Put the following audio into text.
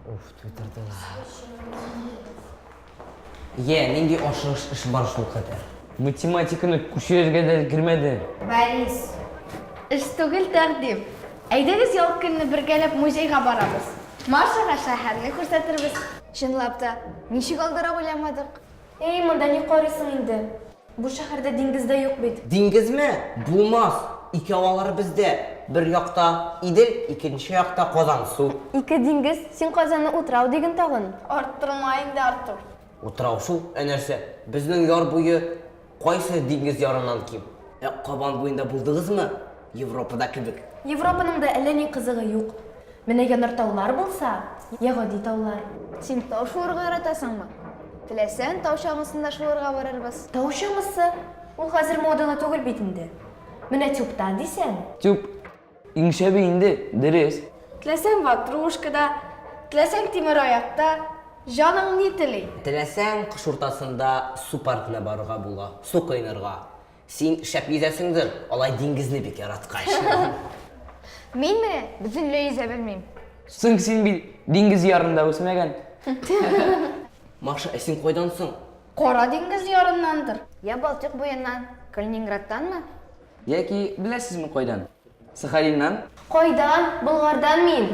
Уф, тутырдылар. Е, нинди ашыгыш эш бар шул кадәр. Математиканы күчерергә дә кермәде. Борис. Эш түгел, тәкъдим. Әйдәгез, ял көнне бергәләп музейга барабыз. Машага шәһәрне күрсәтербез. Чынлап та, ничек алдыра уйламадык. Эй, монда ни карыйсың инде? Бу шәһәрдә диңгез дә юк бит. Диңгезме? Булмас! Икәү алар бездә. Бер якта, Идел, икенче якта Казан, су. Ике диңгез, син Казанны утрау диген тагын. Арттырма инде, Артур. Утрау шул, ә нәрсә? Безнең яр буе кайсы диңгез ярыннан ким? Ә Кабан буенда булдыгызмы? Европада кебек. Европаның да әллә ни кызыгы юк. Менә янартаулар булса, йә гади таулар. Син тау шуырга яратасыңмы? Теләсәң, тау чаңгысында шуырга барырбыз. Тау чаңгысы? Ул хәзер модалы түгел бит инде. Менә тюбта дисәң. Тюб иң шәбе инде, дөрес. Теләсәң ватрушкада, теләсәң тимер аякта, җаның ни тели. Теләсәң, кыш уртасында су паркына барырга була, су коенырга. Син шәп йөзәсеңдер, алай диңгезне бик яраткач. Мин менә бөтенләй йөзә белмим. Соң син бит диңгез ярында үсмәгән. Маша, ә син кайдан соң? Кара диңгез ярыннандыр. Я Балтыйк буеннан, Калининградтанмы? Яки беләсезме кайдан? Сахалиннан? Кайдан? Болгардан мин.